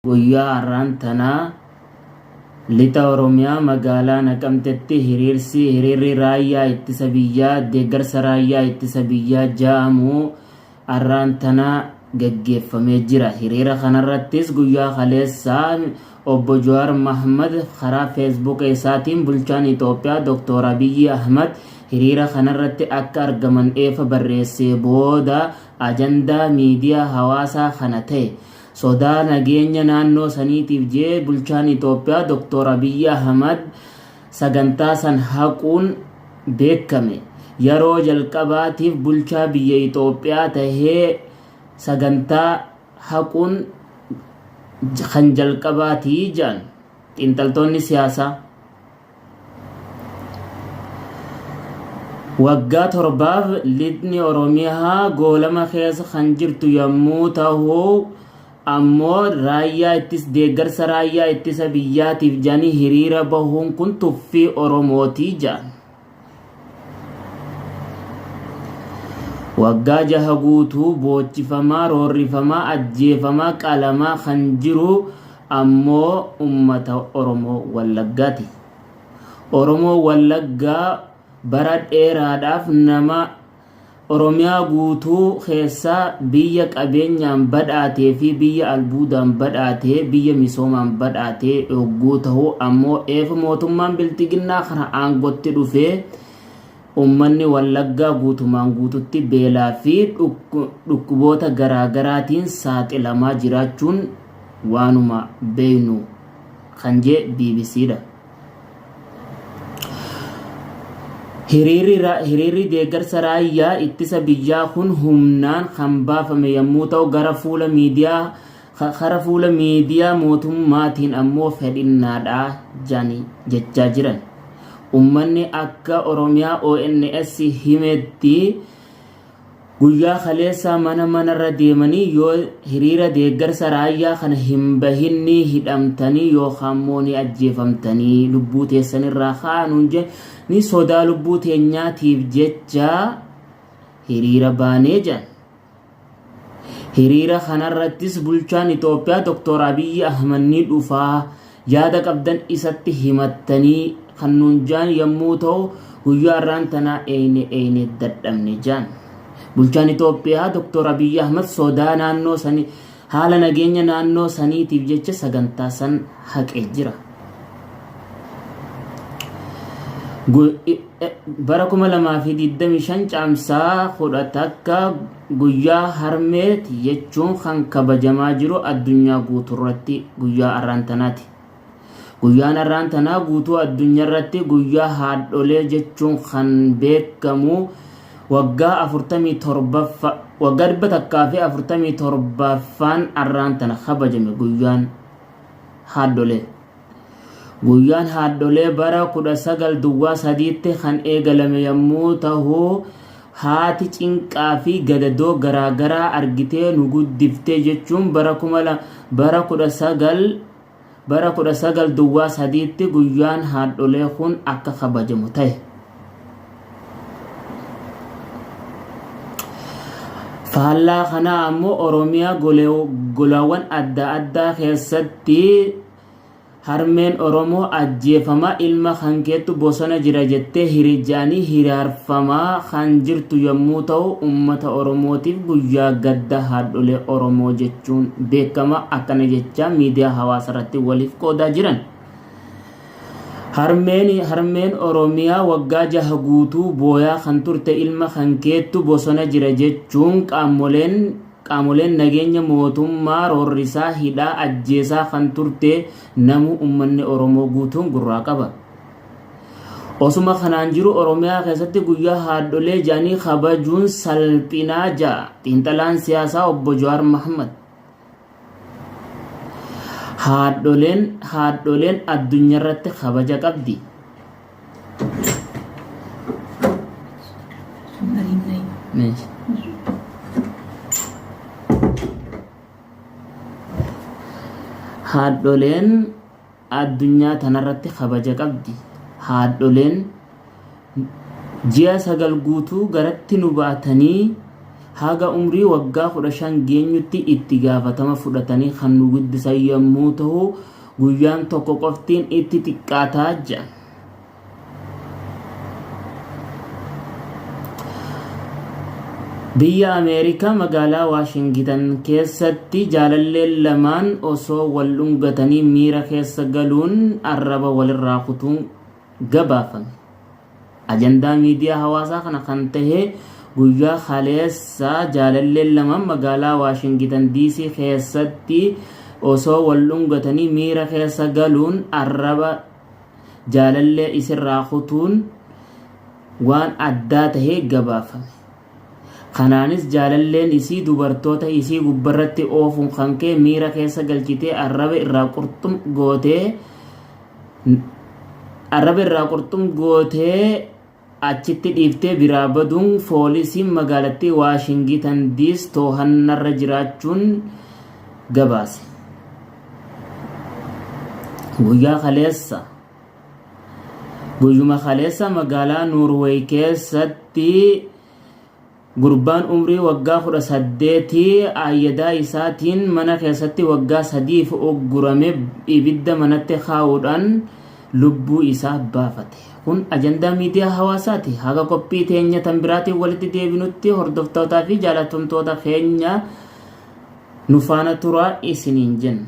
Guyyaa har'aan tanaa Lixa Oromiyaa magaalaa Naqamtetti hiriirsi hiriirri raayyaa ittisa biyyaa deeggarsa raayyaa ittisa biyyaa ja'amu har'aan tanaa gaggeeffamee jira. Hiriira kanarrattis guyyaa kaleessaa obbo Jawaar Mahmad karaa feesbuuka isaatiin bulchaan Itoophiyaa Dooktor Abiyyi Ahmad hiriira kanarratti akka argaman eefa barreessee booda ajandaa miidiyaa hawaasaa kana ta'e sodaa nageenya naannoo saniitiif je'ee bulchaan Itoophiyaa Doktoor Abiyyi Ahimad sagantaa san haquun beekkame. Yaroo jalqabaatiif bulchaa biyya Itoophiyaa tahee sagantaa haquun kan jalqabaati je'an xiinxaltoonni siyaasaa. Waggaa torbaaf lixni Oromiyaa goolama keessa kan jirtu yommuu ta'u ammoo raayyaa ittis deeggarsa raayyaa ittisa biyyaatiif jedhanii hiriira bahuun kun tuffii Oromooti jedhan. waggaa jaha guutuu boochifamaa roorrifamaa ajjeefamaa qalamaa kan jiru ammoo ummata oromoo wallaggaati oromoo wallaggaa bara dheeraadhaaf nama Oromiyaa guutuu keessa biyya qabeenyaan badhaatee fi biyya albuudaan badhaate, biyya misoomaan badhaate hogguu ta'u ammoo eef mootummaan bilxiginnaa kana aangotti dhufee ummanni Wallaggaa guutumaan guututti beelaa fi dhukkuboota garaagaraatiin saaxilamaa jiraachuun waanuma beeynu kan jee bbc dha. Hiriirri ra- hiriirri deeggarsa raayyaa ittisa biyyaa kun humnaan kan baafame yommuu ta'u gara fuula miidiyaa ka- kara fuula miidiyaa mootummaatiin ammoo fedhinnaadha jedhanii jechaa jiran. Ummanni akka Oromiyaa ONS himetti Guyyaa kaleessaa mana manarra deemanii yoo hiriira deeggarsa raayyaa kana hin bahin ni hidhamtanii yookaanmoo ni ajjeefamtanii lubbuu teessanirraa ka'aa nuun jedhanii sodaa lubbuu teenyaatiif jecha hiriira baanee jedhan. Hiriira kanarrattis bulchaan Itoophiyaa Doktor Abiyyi Ahmad ni dhufaa yaada qabdan isatti himattanii kan nuun jaan yommuu ta'u guyyaa irraan tanaa eeyne eeyne dadhabne jaan. Bulchaan Itoophiyaa Dr. Abiyyi Ahmad sodaa naannoo sanii haala nageenya naannoo saniitiif jecha sagantaa san haqee jira. Bara 2025 caamsaa 10 takka Guyyaa Harmeeti jechuun kan kabajamaa jiru addunyaa guuturratti guyyaa arraan tanaati. Guyyaan arraan tanaa guutuu addunyarratti guyyaa haadholee jechuun kan beekamu waggaa 47ffa waggaa 147ffaan arraan tana kabajame guyyaan haadholee. Guyyaan haadholee bara 19 duwwaa sadiitti kan eegalame yommuu tahu haati cinqaa fi gadadoo garaa garaa argitee nu guddiftee jechuun bara 19 bara 19 duwwaa sadiitti guyyaan haadholee kun akka kabajamu tahe. Faallaa kanaa ammoo Oromiyaa golaawwan adda addaa keessatti harmeen Oromoo ajjeefamaa ilma kan keettu bosona jira jettee hirija'anii hiraarfamaa kan jirtu yommuu ta'u uummata Oromootiif guyyaa gadda haadholee Oromoo jechuun beekama akkana jechaa miidiyaa hawaasarratti waliif qoodaa jiran. Harmeen harmeen Oromiyaa waggaa jaha guutuu booyaa kan turte ilma kan keettu bosona jira jechuun qaamoleen qaamoleen nageenya mootummaa roorrisaa hidhaa ajjeesaa kan turte namuu ummanni Oromoo guutuun gurraa qaba. Osuma kanaan jiru Oromiyaa keessatti guyyaa haadholee jedhanii kabajuun salphinaa ja'a xiinxalaan siyaasaa obbo Jawaar Mahaammad. Haadholeen haadholeen addunyarratti kabaja qabdi. Meesha. Haadholeen Addunyaa tanarratti kabaja qabdi. Haadholeen ji'a sagal guutuu garatti nu baatanii haga umrii waggaa 15 geenyutti itti gaafatama fudhatanii kan nu guddisan yommuu tahu guyyaan tokko qoftiin itti xiqqaata jedhan. Biyya Ameerikaa magaalaa Waashingitan keessatti jaalalleen lamaan osoo wal dhungatanii miira keessa galuun arraba walirraa kutuun gabaafame. Ajandaa miidiyaa hawaasaa kana kan tahe guyyaa kaleessaa jaalalleen lamaan magaalaa Waashingitan DC keessatti osoo wal dhungatanii miira keessa galuun arraba jaalallee isirraa kutuun waan addaa tahee gabaafame. Kanaanis jaalalleen isii dubartoota isii gubbarratti oofuun kan kee miira keessa galchitee arraba irraa qurxum gootee arraba irraa qurxum gootee Achitti dhiiftee biraa baduun foolisiin magaalattii Waashingitan Diis toohannarra jiraachuun gabaase. Guyyaa kaleessa Guyyuma kaleessa magaalaa Noorweey keessatti Gurbaan umrii waggaa 18 aayyadaa isaatiin mana keessatti waggaa sadiif uggurame ibidda manatti kaa'uudhaan lubbuu isaa baafate. Kun ajandaa miidiyaa hawaasaati. Haga qophii teenya tan biraatiin walitti deebinutti hordoftootaa fi jaalatamtoota keenya nu faana turaa isiniin jenna.